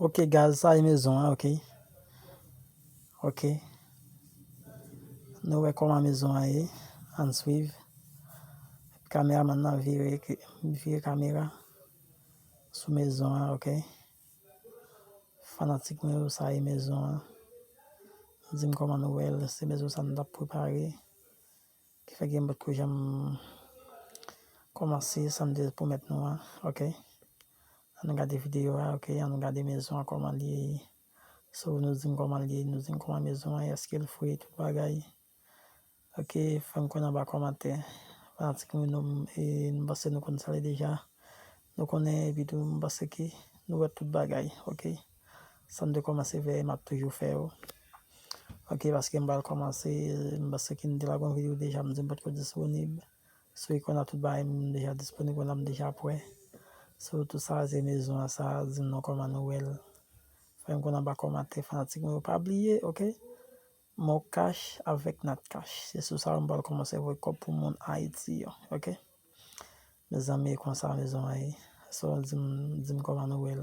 Ok gaz sa e mezon an ok. Ok. Nou wè koman mezon an ye. An swiv. Kamera man nan vire vire kamera sou mezon an ok. Fanatik mwen yo sa e mezon an. Di m koman nou wè l. Se mezon sa nou tap prepare. Kifè gen bout kou janm kòmanse sam te pwomèt nou an ok an nou gade video a ok an nou gade mezon an kòman liye so nou dim kòman liye nou dim kòman mezon an eskel fre tout bagay ok fèm konnen anba kòmantè fanatik mwen yo m panse nou konn sa liye deja nou konnen epitou m panse ke nou wè tout bagay ok. Sam te komanse fè map toujou fè yo ok paske m pral komanse paske m te lagon video deja m di m potko disponib sou ikon nan tout bagay m deja disponib kounye la m deja prè sou tout sa se mezon an sa di m non koman nou wèl fè m konn anba komantè fanatik mwen yo pa bliye ok moncash avèk natcash se sou sa yo m pral komanse voye kòb pou moun ayiti yo ok mezanmi e konsa mezon an ye sou di m di m koman nou wèl.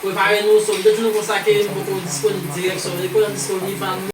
Prepare nou, so m te di nou konsa ke m poko disponib dirèk so, e pou lè m disponib m pa.